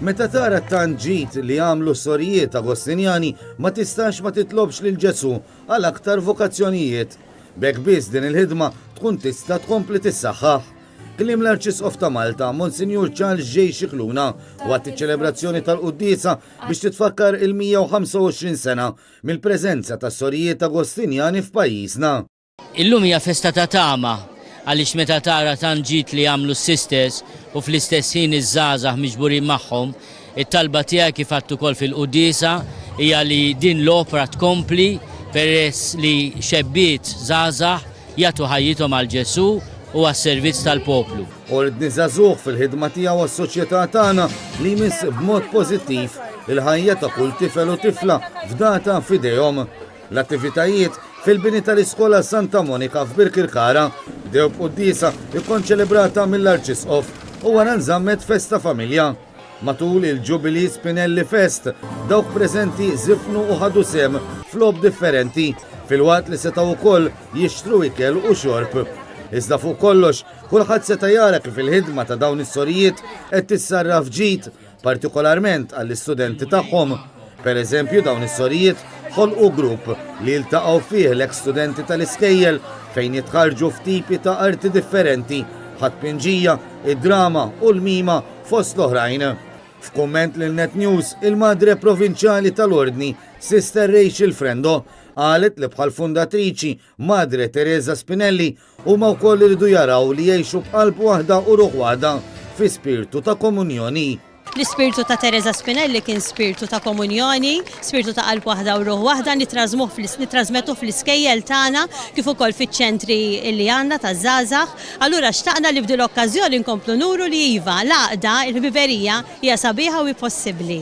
Meta tara t-tanġit li għamlu sorijiet Agostinjani ma tistax ma titlobx lil Ġesu għal aktar vokazzjonijiet. Bek biss din il-ħidma tkun tista' tkompli tissaħħaħ. Kliem l-Arċisqof ta' Malta, Monsinjur Charles J. Scicluna, waqt iċ-ċelebrazzjoni tal-quddiesa biex titfakkar il-125 sena mill-preżenza tas-Sorijiet Agostinjani f'pajjiżna. Illum hija festa ta' tama għaliex meta tara tant ġid li għamlu s-Sisters u fl-istess ħin iż-żgħażagħ miġburin magħhom, It-talba tiegħi kif għedt ukoll fil-quddiesa hija li din l-opra tkompli peress li xebbiet żgħażagħ jagħtu ħajjithom għal Ġesù u għas-servizz tal-poplu. Ordni Żagħżugħ fil-ħidma tiegħu għas-soċjetà tagħna li jmiss b'mod pożittiv il-ħajja ta' kull tifel u tifla fdata f'idejhom. L-attivitajiet fil-bini tal-Iskola Santa Monika f'Birkirkara bdew b'quddiesa kkonċelebrata mill-Arċisqof u wara nżammet festa familja. Matul il-Jubilee Spinelli Fest, dawk preżenti żifnu u ħadu sehem f'logħob differenti, filwaqt li setgħu wkoll jixtru ikel u xorb. Iżda fuq kollox, kulħadd seta' jara kif il-ħidma ta' dawn is-sorijiet qed tissarraf ġid, partikolarment għall-istudenti tagħhom. Pereżempju, dawn is-sorijiet ħolqu grupp li jiltaqgħu fih l-eks studenti tal-iskejjel fejn jitħarrġu f'tipi ta' arti differenti, bħat-tpinġija, id-drama u l-mima. Fost l-oħrajn, f'kumment lil net News, il-Madre Provinċjali tal-Ordni, Sister Rachel Frendo, qalet li bħall-fundatriċi, Madre Teresa Spinelli, huma wkoll iridu jaraw li jgħixu b'qalb waħda u ruħ waħda fi spirtu ta' komunjoni. L-ispirtu ta' Teresa Spinelli kien spirtu ta' komunjoni, spirtu ta' qalb waħda u ruħ waħda, nittrażmuh, nittrażmettuh fl-iskejjel tagħna kif ukoll fiċ-ċentri li għandna taż-żgħażagħ. Allura xtaqna li f'din l-okkażjoni nkomplu nuru li iva, l-għaqda, il-ħbiberija hija sabiħa u hi possibbli.